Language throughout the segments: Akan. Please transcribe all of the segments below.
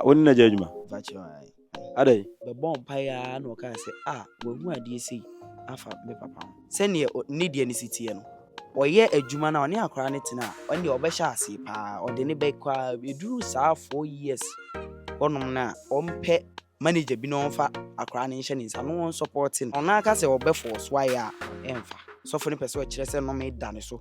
Ah, wo ne no agya adwuma? Mfa kyerɛ wo ae. Adɛn? Bɛbɔɔ mpaeɛ ara na ɔkaa sɛ, Ah, wɔahu adeɛ sei afa me papa ho. Sɛdeɛ ɔ, ne deɛ no si teɛ no, ɔyɛ adwuma no a, ɔne akwadaa no tena a, ɛnneɛ ɔbɛhyɛ aseɛ pa ara. Ɔde no bɛkɔ ara, ɛduru saa four years hɔnom no a, ɔmpɛ manager bi na ɔmfa akwadaa no nhyɛ ne nsa na ɔnsɔpɔɔte no. Ɔno ara ka sɛ ɔbɛfɔɔso ayɛ a, ɛmfa. Sɔfo no pɛ sɛ ɔkyerɛ sɛ nnome da ne so.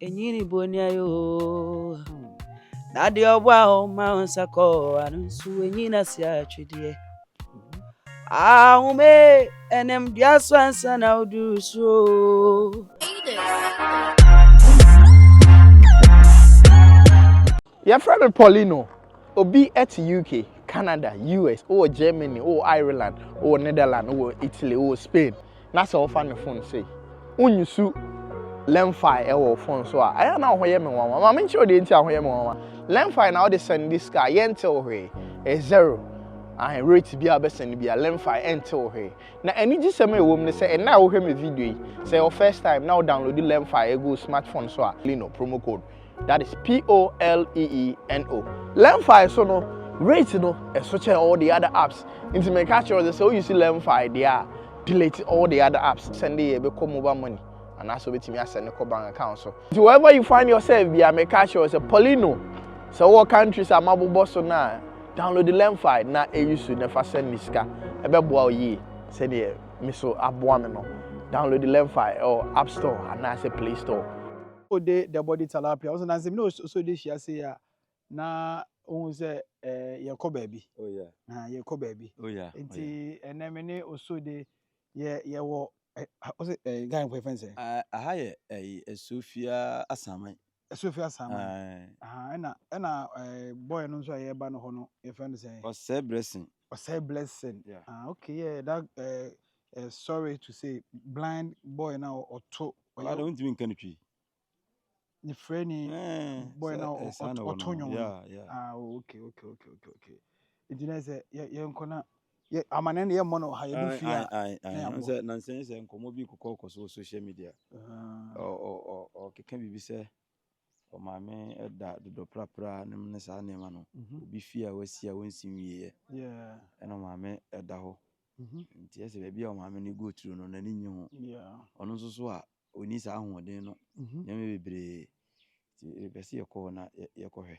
Enyi ne bonya yo Na deɛ ɔboa wo ma wo nsa kɔ ano nso enyi na si atwedeɛ Ahome ɛnam dua so ansa na woduru soro Yɛfrɛ me Paulino. Obi te UK, Canada, US, wowɔ Germany, wowɔ Ireland, wowɔ Netherlands, wowɔ Italy, wowɔ Spain, na sɛ wofa ne fon sei, wonyusu Lemfi wɔ wo fon so a, ɛyɛ a na wo ho yɛ me nwanwa. Ma menkyerɛ wo deɛ nti a ho yɛ me nwanwa. Lemfi na wode sɛnde sika a, yɛnte wo hwee. Ɛyɛ zero. Ahe, rate bi a wobɛsɛnde bi a, Lemfi ɛnte wo hwee. Na anigyesɛm a ɛwɔ mu ne sɛ, ɛnnɛ a wohwɛ me video yi, sɛ ɛyɛ wo first time na wo download Lemfi agu wo smartphone so a, Paulino, promo code, that is P-O-L-E-E-N-O. Lemfi so no, rate no ɛso kyɛn all the other apps. Nti me ka kyerɛ sɛ sɛ o use Lemfi deɛ a, delete all the other apps. Send yɛ bɛ kɔ mobile money. Anaasɛ obetumi asɛ ne kɔ bank account so. Nti wherever you find yourself bia me ka kyerɛ sɛ Paulino sɛ wɔ countries a mabobɔ so no a download Lemfi na e use na fa send ne sika. Ɛbɛboa o yie sɛdeɛ me so aboa me no. Download Lemfi ɛwɔ app store anaasɛ play store. O de the body talapia ɔsɛ nansi mi na ɔsɔ de hyia se a na ohun sɛ ɛɛ eh, yɛ kɔ baabi na yɛ kɔ baabi nti ɛnɛ mi ne ɔsɔ de yɛ yɛ wɔ ɛ ɔsɛ ɛ gan kɔ efɛn sɛ. aha yɛ ɛyi esofia asaman. esofia asaman ɛna ɛna ɛɛ bɔyɛ no nso a yɛ ba no hɔ no yɛ fɛn sɛ. ɔsɛ brɛsin. Osei Blessing yeah. ah okay yeah that uh, uh, sorry to say blind boy na ɔto ɔyɛ ɔyɛ ntumi nka ne twi ne frɛ ni eh, boy na eh, ɔto nwom yeah yeah ah oh, okay okay okay okay okay nti na sɛ yɛ yɛ nkɔ na yɛ amane no yɛ mmɔ no ha yɛ bi fi a na yɛ abɔ sɛ nansɛn sɛ nkɔmɔ bi kɔkɔ kɔ so social media ɔ ɔ ɔ ɔkeka biribi sɛ Maame da dodɔprapra nom ne saa nneɛma no. Obi fie a wasi a wɔnsi nwieɛ ɛna maame da hɔ. Nti ɛsɛ baabi a maame no go through no n'ani nye ho. Ɔno nso so a ɔni saa ahoɔden no nneɛma bebree. Nti yɛpɛ sɛ yɛkɔ hɔ na yɛkɔhwɛ.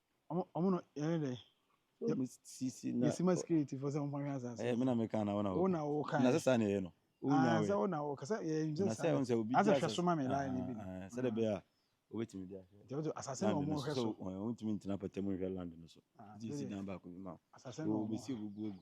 Ɔmo no yɛyɛ dɛ. Yɛ mi sisi na. Yɛ si ma security fo sɛ ɔmo hwɛ asase. Ɛyɛ mi na mi kan na ɔna ɔka. Ɔna ɔka. Na sɛ saa na yɛ no. Ɔna wɛ. Sɛ ɔna ɔka sɛ yɛ mi sɛ saa. Na sɛ ɔnsɛ obi. Asɛ hwɛ so ma mi la yɛ ni bi. Sɛ de bɛ a obi ti mi di ahwɛ. Jɛ ɔtɔ asase na ɔmo hwɛ so. Ɔn ɔmo ti mi ntina pɛtɛ mo hwɛ land no so. Ti si dan ba ko mi ma. Asase na ɔmo. Obi si obi bu ogu.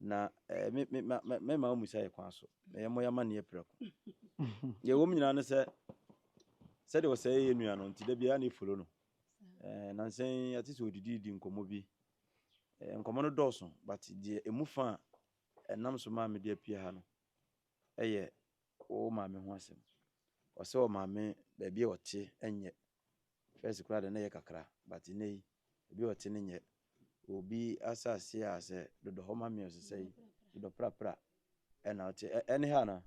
Na eh, me, me, ma, ma, mɛma wɔn mmusa yɛ kwan so, na yɛmmɔ yɛn amanneɛ prɛko. Deɛ ɛwɔ mu nyinaa ne sɛ, sɛdeɛ ɔsɛe yɛ nua no nti, da biara na ɛfolo no. Eh, nansa yi, ate sɛ ɔdididi nkɔmmɔ bi. Eh, nkɔmmɔ no dɔɔso, but deɛ ɛmu fa a ɛnam so maa mede apue ha no yɛ wo maame ho asɛm. Ɔsɛ ɔmaame baabi a ɔte nyɛ First koraa de na ɛyɛ kakra but nnɛ yi obi a ɔte no nyɛ. Obi asase a sɛ dodɔ hɔ ma meals sɛ yi dodɔ prapra ɛna ɔte ɛne ha na.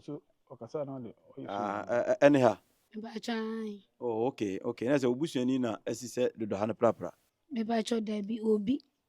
So ɔkasa na ɔde ɔyɛ fi. Ah ɛne ha. Mebakyɛ ae. Oh okay okay na sɛ obusuani na asi sɛ dodɔ ha no prapra. Mebakyɛ dabi obi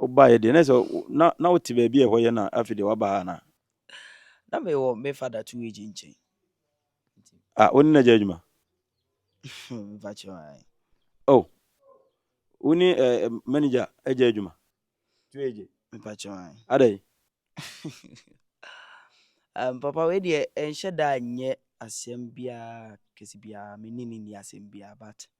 Wobaeɛ deɛ, na ɛsɛ na na wote baabi a ɛhɔ yɛ na afei deɛ waba ha anaa? Na mewɔ me fada two age nkyɛn. Ah, wo ne na gya adwuma? Mfa kyerɛ wa. Oh, wo ne eh, manager agya adwuma? Two age. Mfa kyerɛ wa. Adɛn? um, papa wei deɛ ɛnhyɛ da nyɛ asɛm biara kɛse biara me ne ne ni asɛm biara but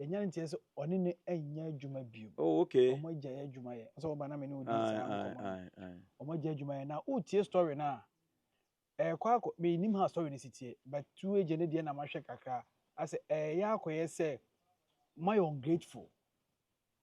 yɛnya no nteɛ sɛ ɔne no ɛnyɛ adwuma bio oh, okay. ɔmo agya yɛ adwuma yɛ sɛ ɔba na me ne wodi saa nkɔmɔ ɔmo agya adwuma yɛ na wotie story no a ɛkɔ akɔ menim ha story no si tie but tu agya no deɛ na mahwɛ kakra asɛ ɛyɛ akɔyɛ sɛ moayɛ ungrateful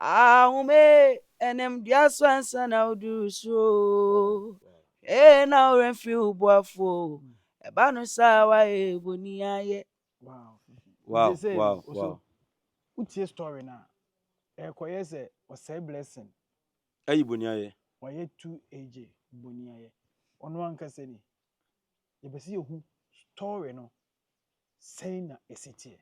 Ahome ɛnam dua so ansa na woduru soro ee na ɔwerɛ mfiri wo boafo ɛba no saa wayɛ boni ayɛ. Wow wow wow wow. Wotie story na ɛkɔyɛ sɛ ɔsɛe blessing. Ayi boni ayɛ. Wayɛ tu AJ boni ayɛ. Ɔno ankasa ni. Yɛpɛ sɛ yɛhu story no Sɛn na esi teɛ?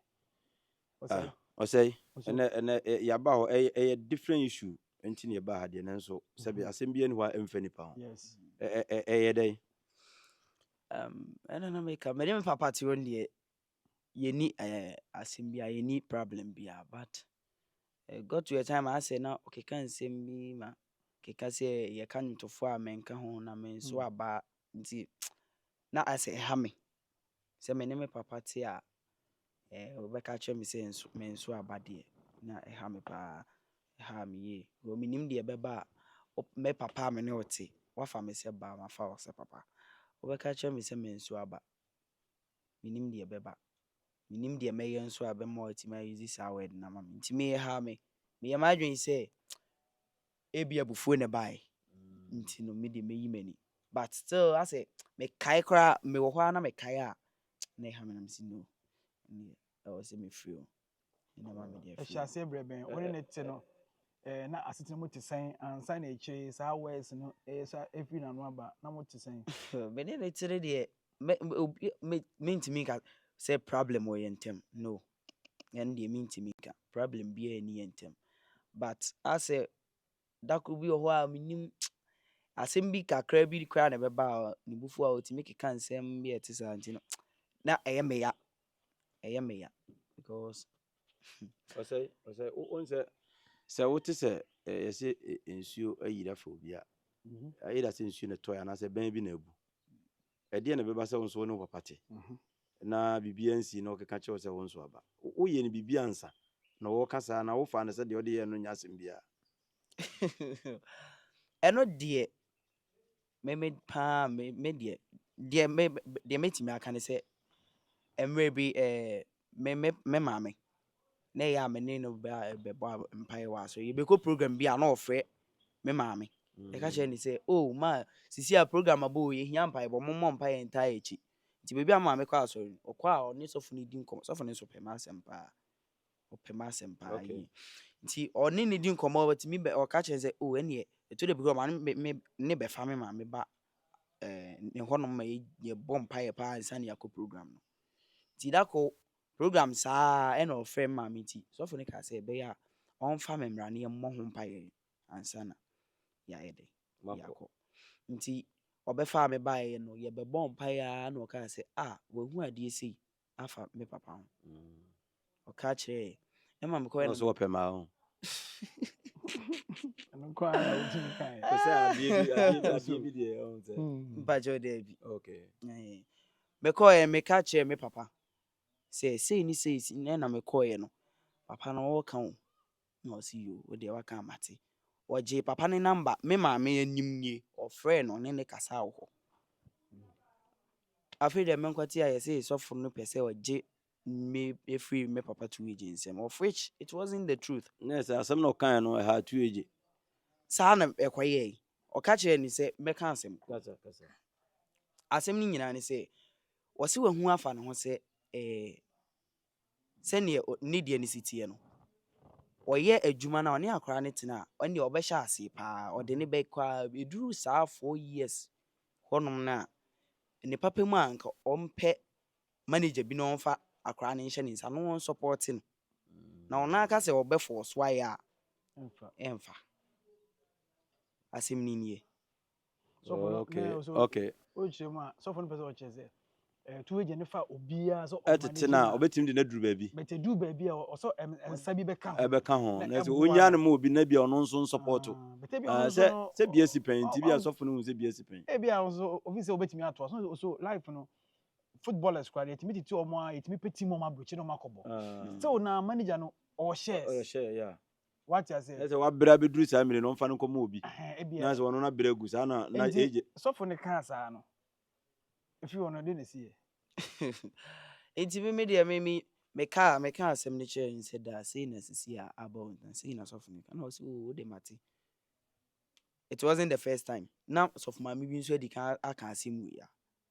Ɔsɛe. Ah, ɔsɛe. Ɛnɛ, ɛnɛ, yaba hɔ, ɛyɛ, ɛyɛ different issue. Nti na yɛba ha deɛ, nanso, sɛbi, mhm. asɛm bi ani hɔ a ɛmfa nipa ho. Yes. Ɛyɛ dɛn? Um, ɛna na meka, mede me papa te wɔn deɛ, yɛni eh, asɛm bi a, yɛni problem bi a, but uh, got to a time asɛ na ɔkeka nsɛm bi ma keka sɛ yɛka nwotofo a menka ho na me nso mhm. aba Nti na ayɛ sɛ ɛha me. Sɛ me ne me papa te a, ɔbɛka akyerɛ me sɛ menso aba deɛ, na ɛha me paa. Ɛhaa me yie. Because menim deɛ ɛbɛba a, me papa a me ne wo te, woafa me sɛ ba, mafa wo sɛ papa. Wobɛka akyerɛ me sɛ menso aba. Menim deɛ ɛbɛba. Menim deɛ mɛyɛ nso a ɛbɛma woatumi a use saa word no ama me. Nti me ɛhaa me. Meyɛɛ m'adwene sɛ Ebia abufuo na ɛbaeɛ nti no me deɛ mɛyi m'ani but still asɛ mekae koraa mewɔ hɔ ara na mekae a na ɛha me na mesi no ɛneɛ ɛwɔ sɛ mefiri o ɛna ma mede afiri. Ɛhyɛ aseɛ berɛ bɛn wo ne ne te no ɛɛ na asetena mu te sɛn ansa na akyire saa words no ɛyɛ sa ɛfiri n'ano aba na mo te sɛn? me ne ne te no deɛ mentumi nka sɛ problem wɔ yɛn ntam no Ɛno deɛ mentumi nka. Problem biara ɛnni yɛn ntam. But asɛ dakoro bi wɔ hɔ a menim asɛm bi kakra bi koraa na ɛbɛba a ne bufuo a ɔtumi keka nsɛm bi a ɛte saa nti no na ɛyɛ me ya ɛyɛ me ya because ɔsɛ ɔsɛ wɔn sɛ sɛ wote sɛ yɛsɛ nsuo ayira fo bi a mhm. ayira sɛ nsuo na ɛtɔ yɛ anaasɛ bɛn bi na abu Ɛdeɛn na ɛbɛba sɛ wo nso wo ne wo papa te na biribiara nsii na ɔkeka kyerɛ wo sɛ wo nso aba? Woyɛɛ no biribi ansa na ɔreka saa anaa wofaa no sɛ deɛ ɔde yɛɛ no nyɛ asɛm biara? Ɛno deɛ me me paa me me deɛ deɛ me deɛ mɛtumi aka ne sɛ mmerɛ bi eh, me me me maame na ɛyɛ a me ne no bɛbɔ mpaeɛ wɔ asɔre yɛbɛkɔ program bi a na ɔfrɛ me maame ɛka kyerɛ ne sɛ o oh, ma sisi a program abɔ o yɛhia mpaebɔ mommɔ mpaeɛ ntaa akyi nti baabi a maame kɔ asɔre no ɔkɔ a ɔne sɔfo no di nkɔmmɔ sɔfo no nso pɛ ma asɛm paa ɔpɛ ma asɛm paa okay. yie nti ɔne ne di nkɔmmɔ ɔtumi bɛ ɔka kyerɛ sɛ o oh, ɛneɛ ɛtɔ da bi kɔ ma ne bɛfa me maame ba ɛɛ ɛhɔnom ma yɛbɔ mpaeɛ paa ansa na yɛakɔ program no. Nti da koro, program saa ɛna ɔfrɛ me maame nti, sɔfo no kaa sɛ ɛbɛyɛ a ɔmfa me mmra na yɛmmɔ ho mpaeɛ ansa na yɛayɛ dɛ yɛakɔ. Nti ɔbɛfaa me baeɛ no, yɛbɛbɔɔ mpaeɛ ara na ɔkaa sɛ, ah, wahu adeɛ sei. afa me papa ho ɔka kyerɛɛ ɛma mekɔɛ no so wɔpɛ maa ho mpakyɛ ɔdɛ bi mekɔɛ meka kyerɛ me papa sɛ sei ne sei na mekɔɛ no papa no ɔwɔ ka o Na ɔse yoo wodeɛ waka a mate. Ɔgyee papa no number, me maame anim nie, ɔfrɛɛ no ɔne no kasaa wɔ hɔ. Afei deɛ me nkwati ayɛ sei sɔfo no pɛ sɛ ɔgye me ɛfiri me papa two agye nsɛm of which it wasn't the truth. Nɛ sɛ asɛm na ɔkaeɛ no ɛhaa two agye. Saa na ɛkɔyɛɛe. Ɔka kyerɛɛ no sɛ mɛka asɛm. Kasa kasa. Asɛm no nyinaa ne sɛ ɔse wahu afa ne ho sɛ ɛɛ. sɛdeɛ ne deɛ no si teɛ no, ɔyɛ adwuma no a, ɔne akwadaa no tena a, ɛnneɛ ɔbɛhyɛ aseɛ pa ara, ɔde no bɛkɔ ara, ɛduru saa four years hɔnom no a, ne papa mu a, anka ɔmpɛ manager bi na ɔmfa akwadaa no nhyɛ ne nsa na ɔnsɔpɔɔte no. Na ɔno ara ka sɛ ɔbɛfɔɔso ayɛ a, ɛmfa. Asɛm no nie. sɔfo no okay okay ɔkyerɛ mu a sɔfo no pɛ sɛ ɔkyerɛ sɛ ɛtu agya ne fa obiara sɛ ɔma ne ɛtete no a ɔbɛtumi de no aduru baabi bɛtɛ duru baabi a ɔsɔ nsa bi bɛka ho ɛbɛka ho na sɛ ɔnya no ma obi na bi a ɔno nso nsɔpɔto sɛ sɛ bia si pɛn nti bi a sɔfo no hu sɛ bia si pɛn ebi a nso obi sɛ ɔbɛtumi atoa so so life no footballers kora deɛ ɛtumi tete ɔmo a ɛtumi pɛ team ɔmo abrokyi na ɔmo akɔbɔ sɛ ɔna manager no ɔhyɛ ɔhyɛ yeah Wate aseɛ? Ɛsɛ wabrɛ abɛduru saa mmiri no ɔmfa no nkɔma obi. Ebia. Na sɛ ɔno na brɛ gu saa na na age. Nti sɔfo no kaa saa no. Efi hɔ no de na esi yɛ. Nti me me deɛ me me me kaa me kaa asɛm no kyerɛ no sɛ daa sei na sisi a abɔ na sei na sɔfo no ka na ɔsi o de mate. It wasn't the first time. Na sɔfo maame bi nso adi kan aka asɛm wei a.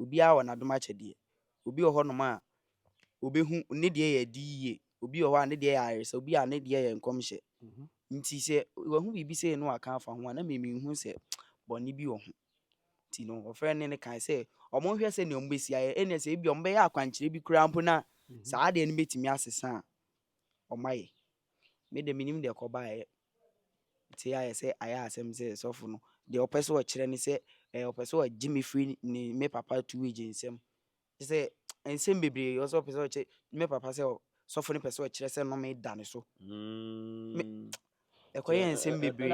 Obiara wɔ n'adom akyɛdeɛ. Obi wɔ hɔnom a, ɔbɛhu, ne deɛ yɛ adi yie. Obi wɔ hɔ a, ne deɛ yɛ ayaresa. Obi a, ne deɛ yɛ nkɔmhyɛ. Nti sɛ wahu biribi sei na waka afa ho a, na me menhu sɛ bɔne bi wɔ ho. Nti no, ɔfrɛɛ ne ne kae sɛ, wɔnhwɛ sɛdeɛ wɔbɛsi ayɛ. Ɛnneɛ sɛ ebia wɔbɛyɛ akwankyerɛ bi koraa mpo na saa adeɛ no bɛtumi asesa a, wɔayɛ. Me deɛ, mennim deɛ ɛkɔbaeɛ. Ntsi ayɛ sɛ ayɛ asɛm sɛ sɔfo no deɛ ɔpɛ sɛ ɔkyerɛ ne sɛ ɛɛ ɔpɛ sɛ ɔgye me firi ne me papa two age nsam. Sɛ nsɛm bebree ɔwɔ sɛ ɔpɛ sɛ ɔkyerɛ me papa sɛ sɔfo no pɛ sɛ ɔkyerɛ sɛ nnome da ne so. Me ɛkɔyɛ nsɛm bebree.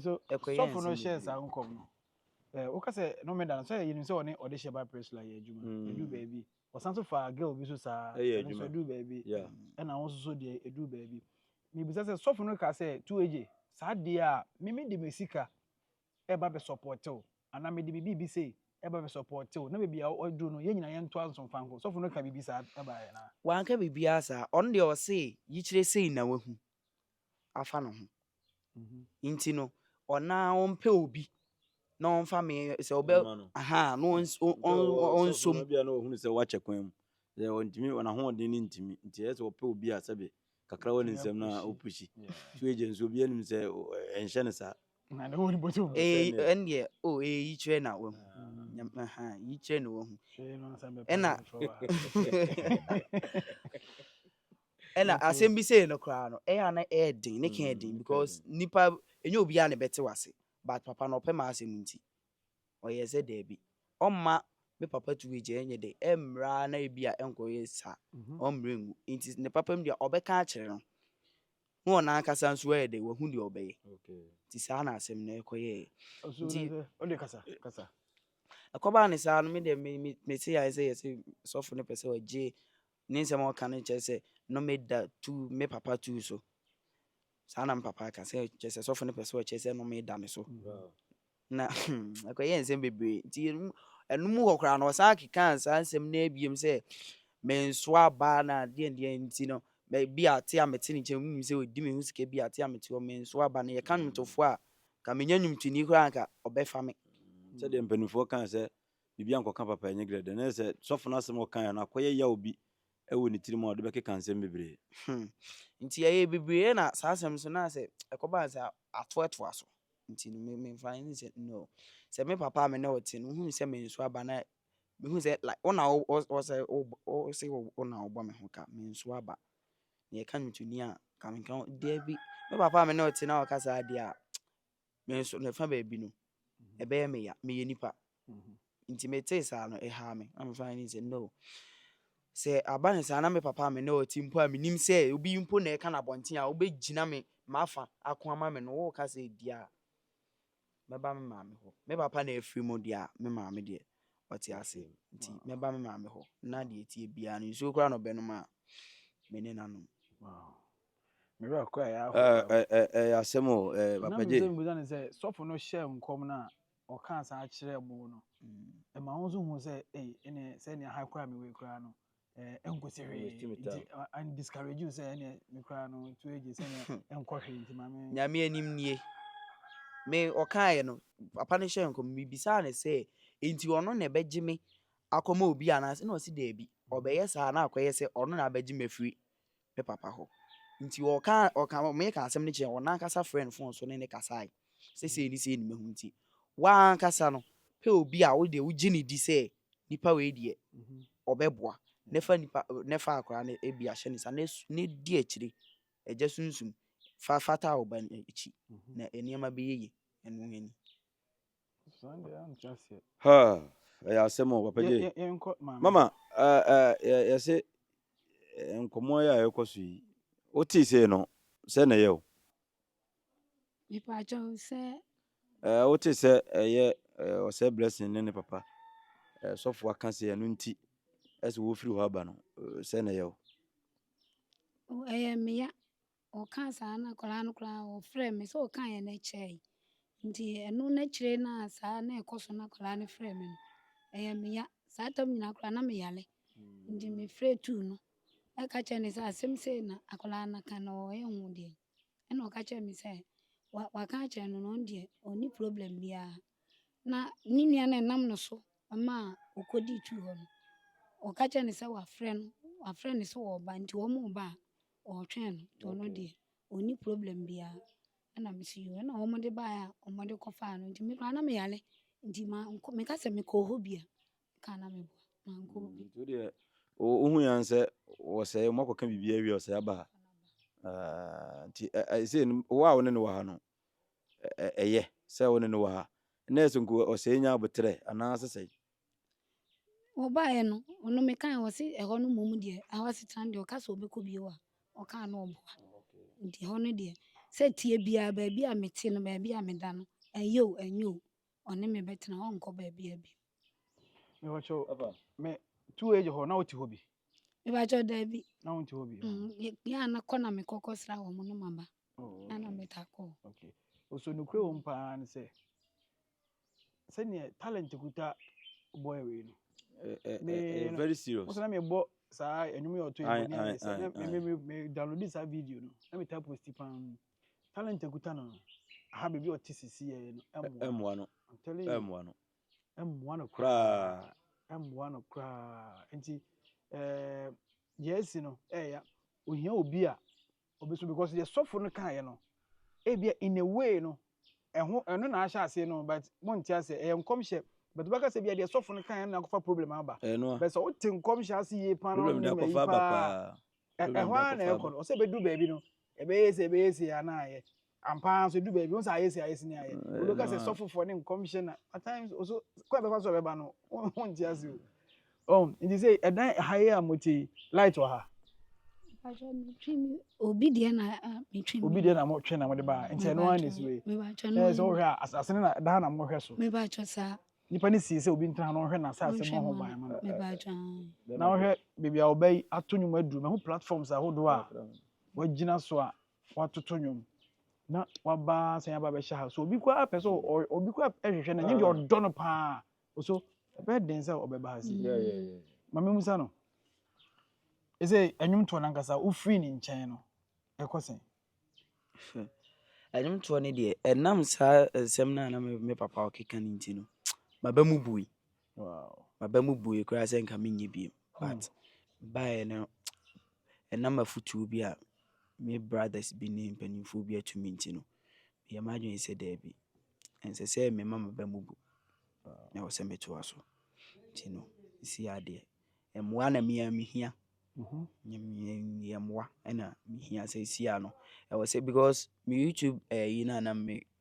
So sɔfo no hyɛɛ saa nkɔm no, woka sɛ nnome da no so a, yɛnim sɛ ɔne ɔdehyeɛ ba Priscilla yɛɛ adwuma. Ɛduu baabi Wɔsan nso faa girl bi nso saa, ɛyɛ ɛno nso adwuma ɛduu baabi, yeah ɛna wɔn nso so deɛ ɛduu baabi. Mebisa sɛ sɔfo no kaa sɛ, tu agye, saa deɛ a me mede me sika ɛba bɛsɔpɔɔte wo, anaa mede me biribi sei ɛba bɛsɔpɔɔte wo, na baabi a ɔduru no yɛn nyinaa yɛntoa nso mfa nkɔ. Sɔfo no ka biribi saa baeɛ anaa? Wanka biribiara saa, ɔno deɛ ɔse yikyerɛ sei na wahu afa ne ho. nti no ɔna ɔmpɛ obi na ɔmfa me sɛ ɔbɛ aha na ɔnso mu bi a na ɔhunu sɛ wakyɛ kwan mu sɛ ɔntumi wɔn ahoɔden no ntumi nti ɛyɛ sɛ ɔpɛ obi a sɛbe kakra wɔ ne nsɛm na ɔpusi so agya nso obi anim sɛ ɛnhyɛ ne saa ɛndeɛ o ɛyɛ yi kyerɛ na wahu yi kyerɛ na wahu ɛna ɛna mm-hmm. asɛm bi sɛ no koraa no ɛyɛ ana ɛyɛ den ne ka yɛ den mm, because nipa ɛnyɛ obiara na ɛbɛte wase but papa na ɔpɛ maa asɛm nti ɔyɛ sɛ daabi ɔmma me papa tu agya ɛnyɛ dɛ ɛmmra na ebi a ɛnkɔyɛ saa mm-hmm. ɔmmrɛ ngu nti ne papa mu deɛ ɔbɛka akyerɛ no na ɔno ankasa nso ɛyɛ dɛ wahu deɛ ɔbɛyɛ nti saa na asɛm no ɛkɔyɛɛ nti ɛkɔbaa ne saa no me deɛ mete ayɛ sɛ yɛ sɛ sɔfo no pɛ sɛ ɔgye Ne nsɛm a ɔka no kyerɛ sɛ nnome da tu me papa tu so. Saa na me papa aka sɛ kyerɛ sɛ sɔfo no pɛ sɛ ɔkyerɛ sɛ nnome da me so. Na ɛkɔyɛ nsɛm bebree nti ɛno mu hɔ koraa no ɔsan kekaa saa nsɛm no abiem sɛ menso aba na deɛ deɛ nti no bi a te a mete ne nkyɛn mu sɛ ɔdi me ho sika bi a te a mete hɔ menso aba no yɛka nnwomtofoɔ a ka menya nnwomtoni koraa nka ɔbɛfa me sɛdeɛ mpanimfoɔ kaa sɛ biribi ankɔka papa ɛnyɛ grɛ dɛ na yɛ sɛ sɔfo no asɛm a ɔkaeɛ no akɔyɛ yaw bi wɔ ne tirim a ɔde bɛkeka nsɛm bebree. Hmm. Nti ɛyɛɛ bebree na saa asɛm no so na sɛ ɛkɔbaa sɛ ato ɛtoa so nti no me memfa ne sɛ no sɛ me papa a me ne wo te no wohu sɛ me nso aba na mehu sɛ like wo na wo sɛ wo se wo na wobɔ me ho ka me nso aba na yɛka no to ni a ka me nka daabi me papa a me ne wo te na ɔka saa deɛ a me nso ne fa baabi no ɛbɛyɛ me ya meyɛ nipa nti metee saa no ɛhaa me na mefa ne sɛ no sɛ aba ne saa na me papa me ne ɔte mpo a menim sɛ obi mpo na ɛka no abɔnten a wobɛgyina me mafa ako ama me no woka sɛ di a mɛba me maame hɔ me papa na afiri mu deɛ a me maame deɛ ɔte ase nti mɛba me maame hɔ na deɛ ɛtie biara no nsuo koraa na ɔbɛnom a me ne nanom wow. Me werɛ kɔ a ɛyɛ ahodoɔ. Ɛɛ ɛɛ ɛɛ ɛyɛ asɛm o ɛɛ Na Papa menim J. sɛ mebusa no sɛ sɔfo no hyɛɛ nkɔm no a ɔkaa saa kyerɛɛ mo no ɛma wo nso hu sɛ ei ɛneɛ sɛ ɛneɛ ha koraa me wei koraa no ɛɛ ɛnkɔsi hwee Waste me nti time. ɛ- and discourage you sɛ ɛneɛ me koraa no to agye sɛ ɛneɛ ɛnkɔ hwee nti ma me Nyame anim nie. Me ɔkaeɛ no papa no hyɛɛ nkɔm mebisaa no sɛ enti ɔno na ɛbɛgye me akɔma obi anaasɛ na ɔse daabi ɔbɛyɛ saa na akɔyɛ sɛ ɔno na abɛgye me afiri me papa hɔ. Nti ɔka ɔka meka asɛm no kyerɛ wɔn n'ankasa frɛ no fon so ne ne kasae sɛ sei ne sei ne mahu nti w'ankasa no pɛ obi a wodeɛ wogye ne di sɛ nipa wei deɛ ɔbɛboa na fa nipa na fa akora no ebi ahyɛ ne nsa na di akyire agya sunsum fa fata wo ba akyi na nneɛma bɛyɛ yie ɛno ani. ha ɛyɛ asɛm o papa gye mama yɛse nkɔmmɔ yɛ a ɛkɔ so yi wotee sei no sɛ na ɛyɛ o mepakyɛw sɛ wote sɛ ɛyɛ ɔsɛ blessing ne ne papa sɔfo aka sɛ ɛno nti ɛsɛ wɔfiri hɔ aba no sɛ na ɛyɛ o ɛyɛ meya Ɔkaa saa na akwadaa no koraa ɔfrɛɛ me sɛ ɔkaa yɛ no akyire yi nti ɛno n'akyire no a saa na ɛkɔ so na akwadaa no frɛɛ me no ɛyɛ me ya saa tam nyinaa koraa na me yale nti me frɛ tuu no ɛka kyerɛ ne sɛ asɛm sei na akwadaa no ka na ɔyɛ ho deɛ ɛna ɔka kyerɛ me sɛ wa waka akyerɛ no na ɔno deɛ ɔni problem biara na ne nua no ɛnam no so ɛma ɔkɔdi tu hɔ no ɔka kyerɛ ne sɛ wafrɛ no wafrɛ ne sɛ ɔba nti wɔn ba a. Ɔɔtwɛn no nti ɔno deɛ ɔnni problem biaa. Ɛna mese yoo ɛna ɔmo de baeɛ a ɔmo de kɔ faa no nti me koraa na me yare nti mankɔ meka sɛ mekɔɔ hɔ bi a meka a na meboa mankɔ hɔ bi. Nti wodeɛ wohu yan sɛ wɔsɛe ɔmo akɔka biribi awie a ɔsɛe aba ha ah, nti ɛ ɛ sei no wo a wo ne no wɔ ha no ɛ ɛ ɛyɛ sɛ wo ne no wɔ ha nɛɛse nko ɔsɛe nya aboterɛ anaa sesɛe Wɔbaeɛ no, ɔno mekae no, ɔse ɛhɔ no mmom deɛ, ɛhɔ asetena no deɛ ɔka sɛ ɔbɛkɔ bio a, ɔkaa no ɔboa. Nti ɛhɔ no deɛ, sɛ ɛteɛ biaa, baabi a mete no, baabi a meda no, ɛyɛ o, ɛnyɛ o, ɔne me bɛtena, ɔnkɔ baabiaa bio. Mepakyɛw, me 2AG hɔ na wote hɔ bi? Mepakyɛw, daabi. Na wonte hɔ bi? Mm, yɛ- yɛ a na kɔ na mekɔ kɔsra wɔn no maba. Oh, Na na okay. metaa kɔ hɔ. Okay. So nokorɛ wɔ mu paa ne sɛ, sɛdeɛ talent kuta boy wei no. Ɛyɛ very serious. Mo sɛ na mebɔ saa ɛnum yɛ ɔtɔ ɛbɔ ne ayɛ sɛ na me me me download saa video no na me ta post paa mu talent kuta no aha beebi ɔte sisi yɛ no ɛmoa no ɛmoa no ɛmoa no koraa ɛmoa no koraa nti ɛɛ yɛsi no ɛɛya ohia obi a Obesu because deɛ sɔfo no kaeɛ no ebia in a way no ɛho ɛno na ahyɛ aseɛ no but monte aseɛ ɛyɛ nkɔmhyɛ but wobɛka sɛ bia deɛ sɔfo no kaeɛ no na akɔfa problem aba Ɛyɛ no a. but sɛ wote nkɔmhyɛ ase yie paa na Problem de wonim akɔfa ayi aba paa paa. a, ɛ- Problem ɛhɔ de ara na akɔfa ɛkɔ aba. no ɔsɛ ɛbɛdu baabi no ɛbɛyɛ sei ɛbɛyɛ sei anaa yɛ Ampa ara nso edu baabi, wohu sɛ ayɛ si ayɛ si ne ayɛ. Eh, Wobɛka sɛ na- sɔfofoɔ ne nkɔmhyɛ na at times ɔso kɔ a ɛbɛfa so a ɛbɛba no wo- wonte ase o. Oh, nti sɛ ɛdan ha yi a mote yi, light wɔ ha. Mpakyɛ metwi me obi deɛ na ah, metwi me. Obi deɛ na motwe na mode baa nti ɛno ara na ɛsi wei. Mebakyɛ no. Ɛyɛ sɛ wohwɛ a as- asene na ɛda ha na mohwɛ so. Mebakyɛ saa. Nipa ne sii sɛ obi ntena ha na ɔhwɛ n'asase bɔ ho ban ma no. Mebakyɛ ah. Na wohwɛ baabi a ɔbɛ yi ato nnwom aduru mahu platforms ahodoɔ a wagyina so a watoto nnwom na waba sɛ aba bɛhyɛ ha so obi koraa pɛ sɛ obi koraa hwehwɛ no ɛnyɛ deɛ ah. ɔdɔ no paa so ɛbɛyɛ den sɛ ɔbɛba ha si ma me musa no ɛsɛ ɛnwom toɔ no ankasa wofiri ne nkyɛn no ɛkɔ sɛn ɛnwom toɔ no deɛ ɛnam saa nsɛm no a na me papa ɔkeka no nti no maba mu bui M'aba mu bue koraa sɛ nka menyɛ bio but baeɛ no ɛnam afotuo bi a me brothers bi ne mpanimfoɔ bi ato me nti no meyɛ m'adwene sɛ daabi ɛnsɛ sɛ mema m'aba mu bu na ɛwɔ sɛ metoa so nti no ɛsi adeɛ mmoa na mea mehia yɛ mmoa ɛna mehia sɛ ɛsi ano ɛwɔ sɛ because me YouTube ɛyi no a na me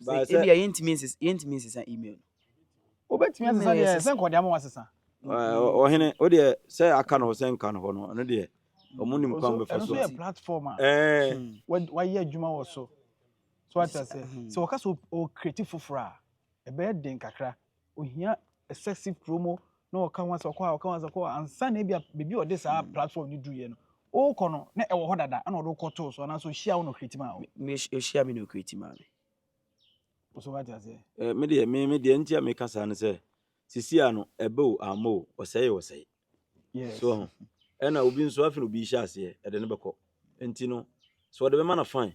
Ba sɛ. Ebia yɛntumi nsesa yɛntumi nsesa email no. Wobɛtumi asesa deɛ sɛ nkɔde ama wasesa. Ɔhene o deɛ sɛ aka no hɔ sɛ nka no hɔ no ɛno deɛ ɔmo nim kwan bɛfa so. Ɛno yɛ platform a wayɛ adwuma wɔ so. So ate aseɛ sɛ wɔka sɛ o create foforɔ a ɛbɛyɛ den kakra. ohia excessive promo na ɔka ho asɛm, ɔkɔ ha, ɔka ho asɛm, ɔkɔ hɔ, ansa na ebi a baabi a ɔde saa platform no duruiɛ no, wokɔ no na ɛwɔ hɔ dada ɛna ɔde wo kɔtoo so anaasɛ ɔhyia wo na ɔcreate maa wo. Me, ɔhyia me na ɔcreate maa me. So wate aseɛ? Eh, me deɛ, me, me deɛ nti a meka saa no sɛ, sisi a no, ɛbɛ o, ama o, ɔsɛe o, ɔsɛe. Yes. So ho. Ɛna obi nso afei na obi hyɛ aseɛ, ɛde no bɛkɔ. Nti no, sɛ ɔde bɛma no fine.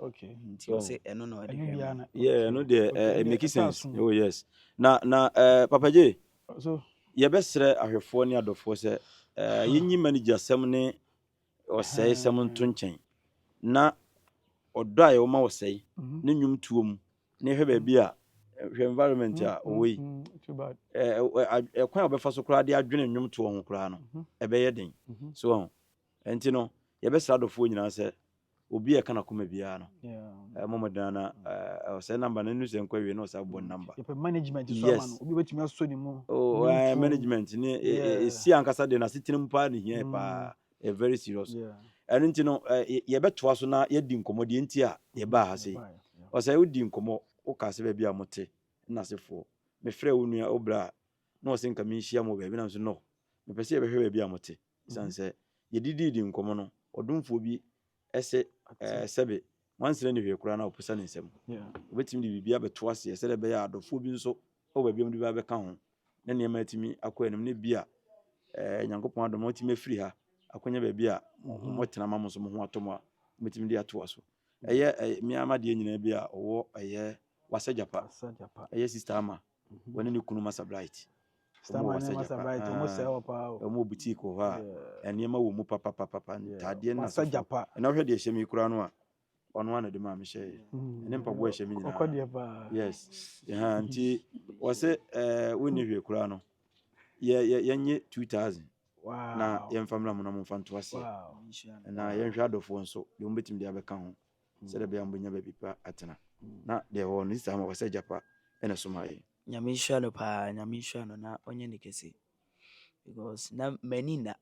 Okay. Nti ɔsɛ oh. ɛno na ɔde hwɛ mu. Yeah, ɛno deɛ eh, okay. it make sense. Oh yes. Na na eh, Papa J. So yɛbɛsrɛ ahwɛfoɔ ne adɔfoɔ sɛ eh, yɛnyi manager sɛm ne ɔsɛe sɛm hmm. nto nkyɛn na ɔdɔ a yɛwɔ ma ɔsɛe mhm. ne nnwom tuo mu ne hwɛ baabi a hwɛ environment a mm-hmm. ɔwɔ yi mm-hmm. ɛkwan a wɔbɛfa so koraa de adwene nnwomtoɔ ho koraa no mm-hmm. ɛbɛyɛ den so ho ɛnti no yɛbɛsra adɔfoɔ nyinaa sɛ Obi a ɛka n'akoma biara no, ɛmɔ mmɔden ara na ɔsɛ namba no nnu sɛ nkɔ awie na ɔsɛ abɔ namba. Yɛpɛ management so ama no, obi bɛtumi asɔ ne mu. Oh, uh, management ne ɛsi ankasa de no asetena mu paa ne hia mm. paa. Ɛ very serious. Ɛno nti no, yɛbɛtoa so na yɛdi nkɔmmɔ deɛ nti a yɛbaa ha sei. Ɔsɛ wodi nkɔmmɔ, wokaa sɛ baabi a mote, nna asefoɔ. Mefrɛ wo nua, wo bra a, na ɔsɛ nka menhyia mo baabi, nam so no. Mepɛ sɛ yɛbɛhwɛ baabi a mote. Esiane sɛ yɛde dii dii nkɔmmɔ no, ɔdomfoɔ bi se, Ɛɛ, sɛbe nwansena nni hwee koraa na ɔposa ne nsam. Obetumi de biribi abɛto aseɛ sɛdeɛ ɛbɛyɛ a adɔfoɔ bi nso wɔ baabi a wɔde bi abɛka ho, na nneɛma atumi akɔ anim, na ebia, ɛɛ, Nyankopɔn adom na wɔatumi afiri ha akɔnya baabi a wɔtena ma mo nso mo ho atɔ mo a, mobetumi de atoa so. Ɛyɛ, ɛyɛ, me ara m'adeɛ nyinaa bi a ɔwɔ, ɛyɛ, Wasa Gyapa, ɛyɛ Sista Ama. Wɔne ne kunu Massa Bright. Wɔn wɔ Wasagya pa. Wɔn wɔ boutique wɔ hɔ a nneɛma wɔ mu papapapapa. Ntaadeɛ na so. Ɛna wohwɛ deɛ ɛhyɛ me kura no a, ɔno ara na de maa me hyɛɛ. Ɛne mpaboa ɛhyɛ me nyinaa. Yes. Ɛha nti wɔsɛ ɛɛ wonni hwee kura no. Yɛ yɛ yɛnye two thousand. Na yɛmfa mmra mu na momfa nto aseɛ. Na yɛnhwɛ adɔfoɔ nso deɛ wɔn bɛtumi de abɛka ho. sɛdeɛ ɛbɛyɛ a mobɛnya baabi pa atena. Na deɛ ɔwɔ no ne saa ma wɔ sɛ agya pa na ɛsomaa yɛn. Nyame nhyira no paa Nyame nhyira no na ɔnyɛ ne kɛse because na m'ani nna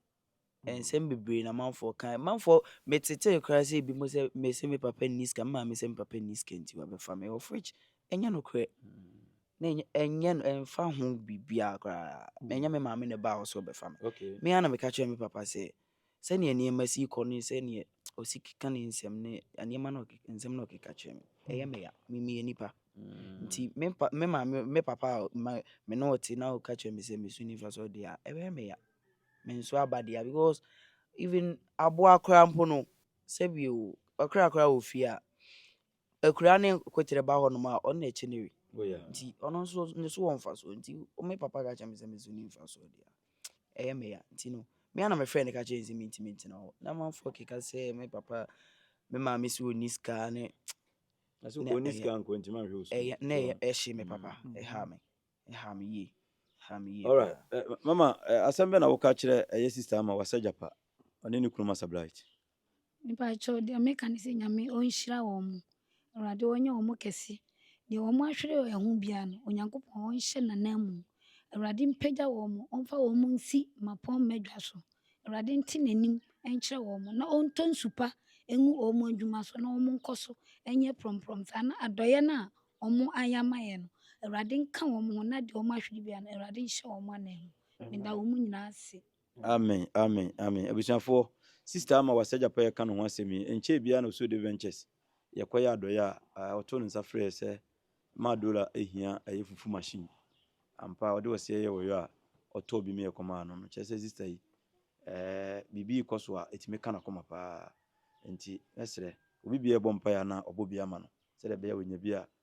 nsɛm bebree na manfoɔ ka manfoɔ metetee koraa sɛ ebi mo sɛ mese me papa nni sika me maame sɛ me papa nni sika nti wabɛfa me of which ɛnyɛ nokorɛ na ɛnyɛ ɛnyɛ no ɛmfa ho biribiara koraa ɛnyɛ me maame na ɛbaa hɔ sɛ ɔbɛfa me Okay. me ara na meka kyerɛ me papa sɛ Sɛnea nneɛma si kɔ ne sɛnea osi keka ne nsɛm ne nneɛma na nsɛm na ɔkeka kyerɛ me. Ɛyɛ me ya. Me meyɛ nipa. Nti me pa me maame me papa a ma me ne ɔte na ɔka kyerɛ me sɛ me so nifa so deɛ a ɛbɛyɛ me ya. Me nso aba deɛ because even aboa koraa mpo no sɛbi o ɔkra koraa wɔ fie a akuraa ne kwekyerɛ ba hɔnom a ɔno na ɛkyɛ no wi oh, nti ɔno nso ne so wɔ mfasoɔ nti me papa ka kyerɛ me sɛ me so ne mfasoɔ deɛ ɛyɛ me ya nti no me ana mefrɛ no ka kyerɛ sɛ mentimi ntena hɔ na manfoɔ keka sɛ me papa me maame sɛ ɔni sika ne na ɛhye me papa mm. ɛha me ɛha me yie ɛha me yie alright eh, mama eh, asɛm bɛ na woka kyerɛ ɛyɛ eh, sister ama wasɛ japa ɔne ne kunu masa blight Mepakyɛw, deɛ meka ne sɛ Nyame ɔnhyira wɔn. Awurade ɔnyɛ wɔn kɛse. Deɛ wɔn ahwere wɔn ho biara no, Onyankopɔn ɔnhyɛ n'ananmu. Awurade mpagya wɔn, ɔmfa wɔn nsi mmapɔmma dwa so. Awurade nte n'anim nkyerɛ wɔn, na ɔntɔ nsu pa ngu wɔn adwuma so na wɔnkɔ so nyɛ prɔmprɔm saa, na adɔeɛ no a wɔayɛ ama yɛn no, Awurade nka wɔn ho, na deɛ wɔahwere biara no, Awurade nhyɛ wɔn ananmu. Meda wɔn nyinaa ase. Amen amen amen abusuafoɔ sister ama wasa gyapa yɛ ka ne ho asɛm yi nkyɛɛ biara na ɔsoo de ventures yɛ kɔ yɛ adɔyɛ a ɔtoo ne nsa frɛɛ sɛ maa dola ehia ɛyɛ fufu machine ampa ɔde ɔseɛ yɛ wɔyɔ a ɔtɔɔ bi meyɛ kɔ maa no no kyerɛ sɛ sister yi ɛɛ biribi kɔ so a ɛtumi ka n'akoma paa nti mɛsrɛ obi biara ɛbɔ mpa yɛ anaa ɔbɔ bi ama no sɛdeɛ ɛbɛyɛ wɔnya bi a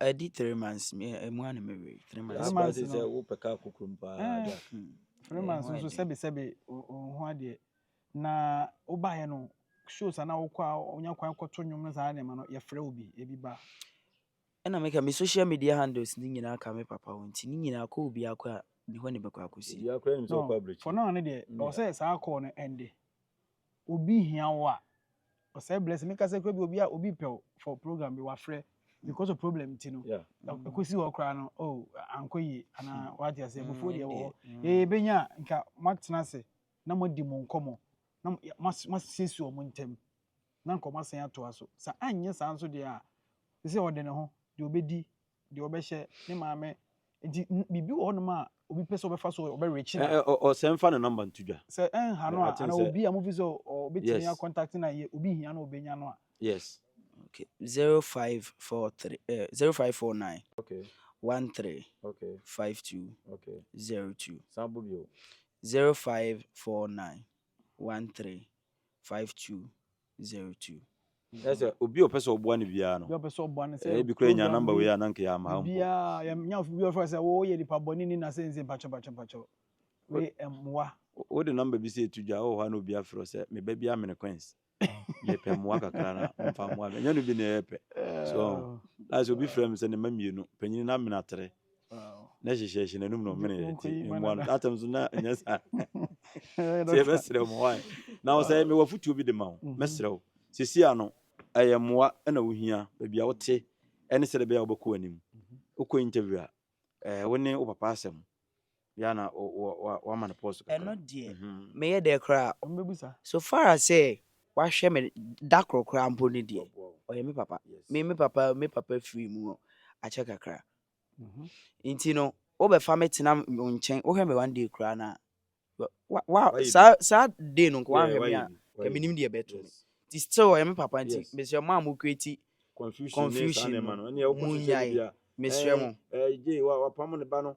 ɛdi three months ɛmu a na mewe three months ba te sɛ wopɛ ka kokorom paa da three months nso sɛbesɛbe ho adeɛ na wobaeɛ no shows ana wokɔ a wonya kwan kɔto nnwom no saa nneɛma no yɛfrɛ wo bi ebi ba ɛna meka me social media handles ne nyinaa ka me papa wo nti ne nyinaa kɔ obi akɔ a ne hɔ ne bɛkɔ akɔsi for now ne deɛ ɔsɛ saa kɔɔ no ɛnde Obi hia wo a, ɔsɛe blessing. Me kasa kura bi obi a obi pɛ wo for program bi wa frɛ because of problem nti no. Ɛkɔsi hɔ koraa no oh ankɔ yie anaa wate ase abufuo deɛ wɔ hɔ. Yɛ yɛ bɛnya a nka mo atena ase na mo adi mo nkɔmɔ na mo asiesie wɔn ntɛm na nka wɔn asan atoa so. Sa anyɛ saa nso deɛ a sɛ sɛ ɔde ne ho deɛ ɔbɛdi deɛ ɔbɛhyɛ ne maame nti biribi wɔ hɔnom a obi pɛ sɛ ɔbɛfa so ɔbɛrekye na. ɔsɛ mfa ne nɔmba nto dwa. sɛ ɛnha no a ana obi a mofi sɛ ɔbɛtumi akɔntakte na yɛ obi hia na ɔbɛnya no a. yes. okay zero five four three eh zero five four nine okay one three okay five two okay zero two san bɔ bio zero five four nine one three five two Zertu. Kyerɛ sɛ obi a ɔpɛ sɛ ɔboa no biara no, ɛyɛ bi kora yɛnya number wei a na nka yɛ ama ha mpo. Yɛnya obi ɔfrɛ sɛ wo yɛ nipa bɔne ni na sɛ nse mpakyɛ mpakyɛ mpakyɛ wei mmoa. Wo de number bi sɛ ɛtu dwa wɔ hɔ a na obi afrɛ wo sɛ me ba bi amene Queens me pɛ mmoa kakra na ɔmfa mmoa me ɛnyɛ no bi na ɛyɛ pɛ so ɔho na sɛ obi frɛ me sɛ ne mma mmienu panyini no amene atere na hyehyɛhyɛ n'anum na ɔmene yɛ ti mmoa no atam so na nyɛ saa sɛ yɛbɛsrɛ wo ma wae na wo sɛ mewɔ afotuo bi de ma wo mhm. mɛsrɛ wo sɛsi a no ɛyɛ mmoa na wohia baabi a wote ɛne sɛde bɛyɛ a wobɛkɔ anim mhm. wokɔ interview a wo ne wo papa asɛm Yeah na wama no pause kakra. Ɛno deɛ meyɛ dɛ koraa a wɔbɛbusa. So far as sɛ wahwɛ me da koro koraa mpo no deɛ, ɔyɛ me papa. Me me papa me papa firi mu akyɛ kakra. Nti no wobɛfa me tena wo nkyɛn wohwɛ me one day koraa no a, wa saa saa day no nka wahwɛ me a nka menim deɛ ɛbɛto me. Nti still ɔyɛ me papa nti mesrɛ mo a mo create confusion no monnyae mesrɛ mo. Ɛɛ Jay wapamo ne ba no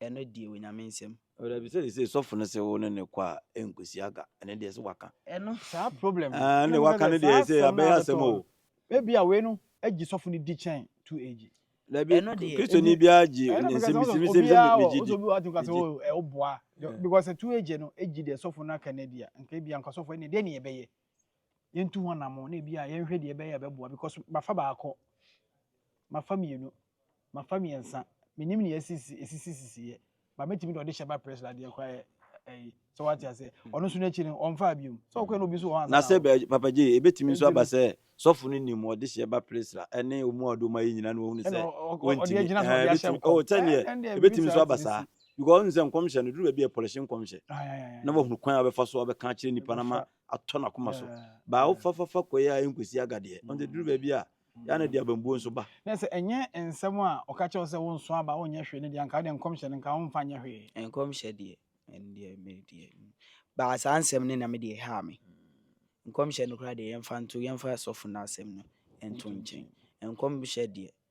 ɛno deɛ onyame nsam. Dabi sɛ sɛ sɔfo no sɛ wo ne ne kɔ a ɛnkɔsi aga ɛne deɛ sɛ waka ɛno saa problem ne waka ne deɛ sɛ abɛyɛ asɛm o ebi a wei no agyi sɔfo no di kyɛn tu agyi dabi kristoni biara gye ne nsɛm bi sɛ mesɛ megye di ɛwoboa because tu agye no agyi deɛ sɔfo no aka no adi a nka ebi anka sɔfo ɛne deɛ ne yɛbɛyɛ yɛntu ho anamo na ebi a yɛnhwɛ deɛ ɛbɛyɛ ɛbɛboa because mafa baako mafa mmienu mafa mmiɛnsa menim nea esisi esisi sisi yɛ ba mɛtumi de ɔde hyɛ ba press la deɛ kora yɛ ɛyi sɛ wate aseɛ ɔno nso n'akyi no ɔnfa abiom sɛ ɔkɔɛ no obi nso wɔ hɔ ansa na sɛ bɛ papa gye ebetumi nso aba sɛ sɔfo no nim ɔde hyɛ ba press la ɛne ɔmu a ɔde ɔmu ayɛ nyinaa na wɔn sɛ wɔntumi ɛɛ ebetumi ɔwɔ sɛ neɛ ebetumi nso aba saa because ɔn sɛ nkɔmhyɛ no duru baabi a ɛpɔlɛhyɛ nkɔmhyɛ na wɔhunu kwan a wɔbɛfa so a wɔbɛka akyerɛ nipa na ma atɔ n'akoma so baa wo fafafa kɔe a ɛnkosi agadeɛ ɔnde duru baabi a yɛ na de abambuo nso ba. Na sɛ ɛnyɛ nsɛm a ɔka kyerɛ wo sɛ wonso aba wonyɛ hwee no deɛ anka wode nkɔmhyɛ no nka womfa nyɛ hwee. Nkɔmhyɛ deɛ ɛno deɛ me deɛ baa saa nsɛm no na me deɛ ɛhaa me nkɔmhyɛ no koraa deɛ yɛmfa nto yɛmfa sɔfo no asɛm no nto nkyɛn nkɔmhyɛ deɛ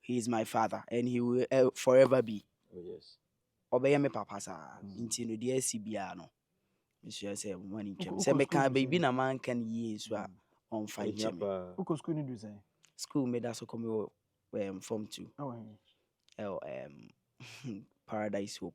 He is my father and he will eh, forever be. Oh, yes. Ɔbɛyɛ me papa saa. Mm. Nti no deɛ asi biara no, mesua sɛ mo ani ntwam. Sɛ meka baabi na manka no yie nso a, ɔmfa nkyɛ me. Wokɔ sukuu no du sɛn? Sukuu meda so kɔ me wɔ um, form two. Oh, ɛwɔ um, Paradise Hope.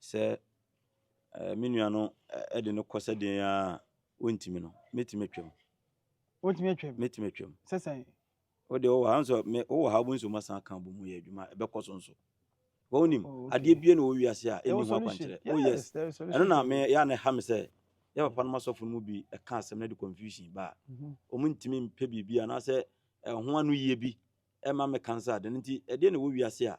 sɛ me nua no de no kɔ sɛdeɛ a ɔntumi no, mɛtumi atwam. Wotumi atwam? Mɛtumi atwam. Sɛ sɛn? Wode wowɔ ha nso, wowɔ ha wobɛnso mu asan ka bɔ mu yɛ adwuma, ɛbɛkɔ so nso. Wonim, oh, adeɛ bie na wɔ wiase a ɛnni ho akwankyerɛ. Oh yes, ɛno na me yɛ a na ɛha me sɛ yɛ papa no ma sɔfo no mu bi ɛka asɛm no de confusion ba a mhm. wɔn ntumi mpɛ biribi anaasɛ ɛho ano yie bi ɛma me kansa ade no nti ɛdeɛ na ɛwɔ wiase a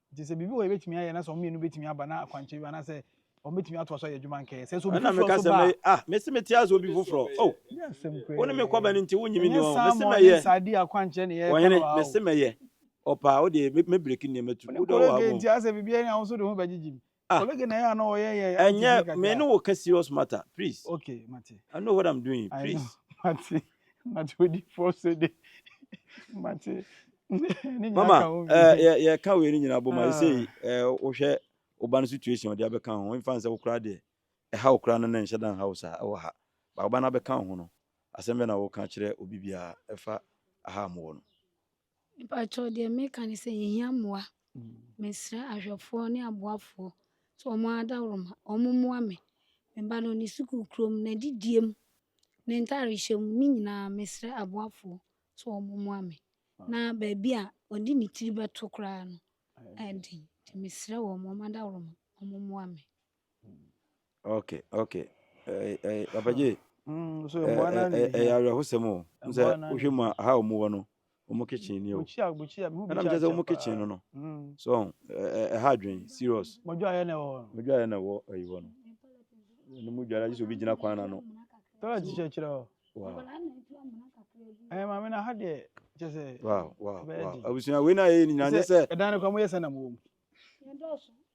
Nti sɛ biribi wɔ hɔ a yɛbɛtumi ayɛ na sɛ wɔn mmienu bɛtumi aba na akwankyerɛ bi anaasɛ wɔn bɛtumi atoa so ayɛ adwuma nkɛyɛ sɛ sɛ obi foforɔ nso ba a. ah mesi mete ase obi foforɔ oh wo ne me kɔba no nti wo nyimi ni wɔn mesi mɛyɛ ɔhene mesi mɛyɛ ɔpaa wo deɛ me break nneɛma tu wo deɛ ɔwɔ ha mo. nti asɛ biribi ɛne ahosuo de ho bɛgyegye mu Ah. Colleague na ya no yeah yeah. And yeah, me no work serious matter, please. Okay, Mate. I know what I'm doing, please. I know, Mate. Mate, what the force de. Mate. Mama, eh yeah yeah, ka we ni nyina bo ma ah. say eh wo hwɛ oban situation de abeka ho. In fact, say wo kra de. Eh ha wo kra no na nhye dan house a wo ha. Ba oban abeka ho no. Asem be na wo ka kire obi bia efa aha mo no. Mpakyɛw deɛ meka ne sɛ yɛhia mmoa. Mesrɛ ahwɛfoɔ ne aboafoɔ sɛ wɔn adaworoma wɔn mmoa me. Me ba no ne sukuu kurom, n'adidie mu, ne ntaade hyɛ mu ne nyinaa mesrɛ aboafoɔ sɛ wɔn mmoa me. Na baabi a ɔde ne tiri bɛto koraa no ɛyɛ den. Nti mesrɛ wɔn wɔn adaworoma wɔn mmoa me. ok ok apagye ɛyɛ awerɛhosɛm o sɛ wohwɛ mu a ha ɔmu wɔ no ɔmu kitchen ni o ɛnam kyɛ sɛ ɔmu kitchen no no so ɛha adwen serious mɔdwa ayɛ na ɛwɔ mɔdwa ayɛ na ɛwɔ ɛyi wɔ no ɛno mu dwara gye sɛ obi gyina kwan na no tɔlɛ ti kyerɛkyerɛ hɔ ɛyɛ maame na ha deɛ kyɛ sɛ wow wow wow abusua wei na yɛ nyinaa nyɛ sɛ ɛdan no kwan mu yɛ sɛ na mu wɔ mu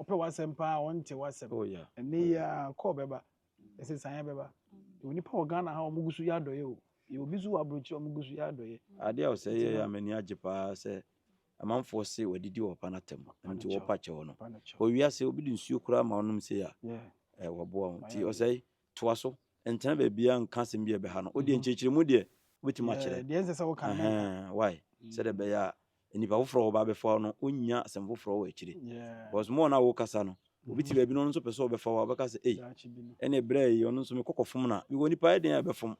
Ɔpɛ w'asɛm paa, ɔnte w'asɛm. Oh, yeah. Ɛnɛ yi a, kɔɔ bɛba. Nsesaeɛ bɛba. Yɛwɔ nipa wɔ Ghana ha a wɔgu so yɛ adɔeɛ o. Yɛwɔ bi nso wɔ aburokyire a wɔgu so yɛ adɔeɛ. Adeɛ a ɔsɛ yɛ a m'ani agye paa sɛ amanfoɔ se wɔadidi wɔ papa no atɛm. Ɛno nti wɔpa kyɛw no. Wɔ wiase, obi de nsuo koraa ma wonom sei a, eh, wɔboa wo. Nti ɔsɛ toa so. Ntena baabiara nka asɛm bi a ɛbɛha no. Wodeɛ nkyerɛkyerɛmu deɛ wobɛtumi akyerɛ. Deɛ ɛnsɛ sɛ woka no menka. Why? Sɛdeɛ ɛbɛyɛ a nnipa foforɔ a wɔba bɛfa wo no wonnya asɛm foforɔ wɔ akyire because mo na wokasa no obi te baabi no ɔno nso pɛ sɛ ɔbɛfa wo a ɔbɛka sɛ ei ɛne berɛ yi ɔno nso mekɔ kɔfom no a mewɔ nipa yɛ den a ɛbɛfom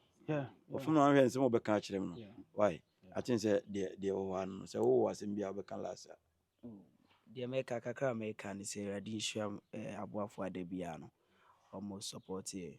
ɔfom no ahwɛ nsɛm ɔbɛka akyerɛ m no why aten sɛ deɛ wɔ hɔ ano sɛ wowɔ asɛm bi a wobɛka last a oh, deɛ mɛka kakra mɛka ne sɛ awurade nhyira eh, aboafoɔ ada biara no ɔmo support eh,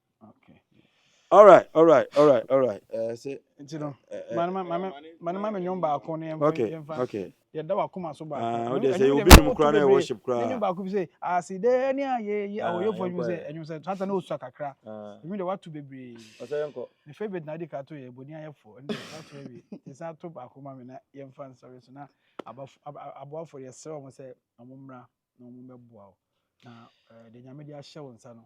All right, all right, all right, all right. Eh, say. Nti no, mane mane mane mame nyom baako ne yɛmfa okay, yɛmfa. Okay. Yɛda wakoma so baako. Ah, wode sɛ obi nom kora na worship kora. Nyom baako bi sɛ aside ne ayɛ yi awoyɛ fo nyom sɛ nyom sɛ tata na osua kakra. Nyom de watu bebree. Ɔsɛ yɛnkɔ. Me favorite na de ka to yɛ boni ayɛ fo. Ɛnde watu ebi. Tisa to baako ma me na yɛmfa nsɔre so na abafo aboafo yɛ sɛ wɔn sɛ wɔn mmra na wɔn bɛboa wo. Na eh, de nyame de ahyɛ wo nsa no.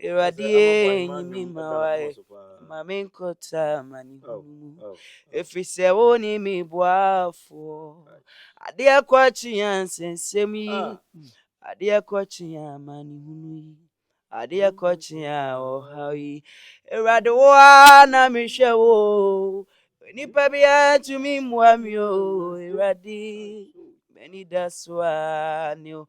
Awurade yɛ nyimi ma wae ma me nkɔta ma ne hunu mu ɛfiri sɛ wo ne me boafoɔ adeɛ kɔkye yɛ nsɛnsɛm yi adeɛ kɔkye yɛ ma ne hunu yi adeɛ kɔkye yɛ ɔhaw yi Awurade wo a na mehwɛ wo nipa biara tumi mmoa me o Awurade m'ani da so a ne o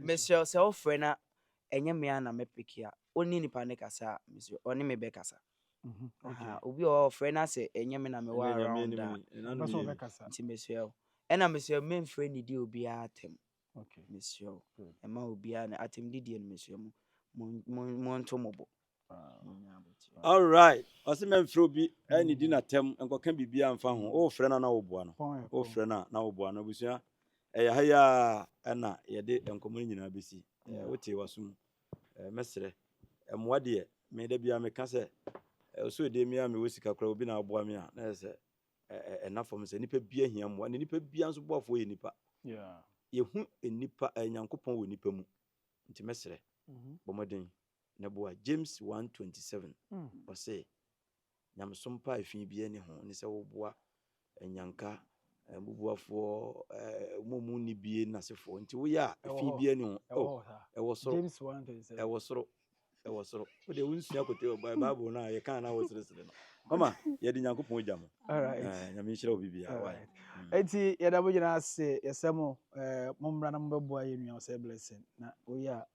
Mesrɛ wo sɛ wo frɛ na ɛnyɛ me a na mɛ peke a ɔnni nipa ne kasa a mesrɛ ɔne me bɛ kasa obi wɔ hɔ ɔfrɛ na sɛ ɛnyɛ me na me wɔ around a nti mesrɛ wo ɛna mesrɛ me mfrɛ nidi obiara atɛm mesrɛ wo ɛma obiara na atɛm didie no mesrɛ mo mo nto mo bo all right ɔsɛ mɛmfrɛ obi ɛne di n'atɛm nkɔka biribiara mfa ho wofrɛ no na woboa no wofrɛ no na woboa no abusua ɛyɛ ha yi a ɛna yɛde nkɔmmɔ no nyinaa bɛsi wotee waso mu mɛserɛ mmoa deɛ me da biara meka sɛ ɔsɛ ɔdeɛ mi a mewɔ sika koraa obi na aboa me a na ɛsɛ ɛna fam sɛ nipa bia hia mmoa ne nipa bia nso boafoɔ yɛ nipa yɛhu nipa nyankopɔn wɔ nipa mu nti mɛserɛ bɔmmɔden Na bua James one twenty seven, ɔse, Nyamesom pa a fi biara nni ho ne sɛ woboa anyanka, mbubuafoɔ, wɔn a wɔn nni bie no asefoɔ, nti woyɛ a fi biara nni ho, oh, ɛwɔ soro, ɛwɔ soro, ɛwɔ soro, wodeɛ wonsua kote Bible no a yɛkaa no a woseresere no, mama yɛde Nyankopɔn ogya mu, Nyame nhyira wo biribiara, why. Enti yɛda mo nyinaa ase, yɛsrɛ mo mommra na mobɛboa yɛn nua Osei Blessing, na woyɛ a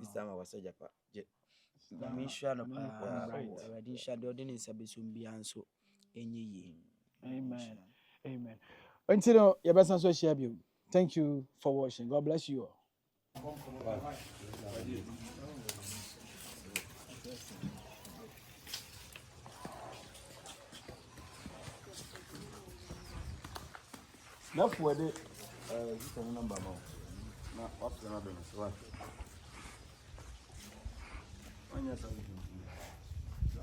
Sister ma wasa japa. Je. Nyame nhyira no paa. Awurade nhyira deɛ ɔde ne nsa bɛsom biara nso ɛnyɛ yie. Amen. Amen. Nti no yɛbɛsan so ahyia bio. Thank you for watching. God bless you all. Nafua de ɛɛ eh, sika ne namba ma wo na wafrɛ no abɛn no so wa wanyɛ saa sika no sini sa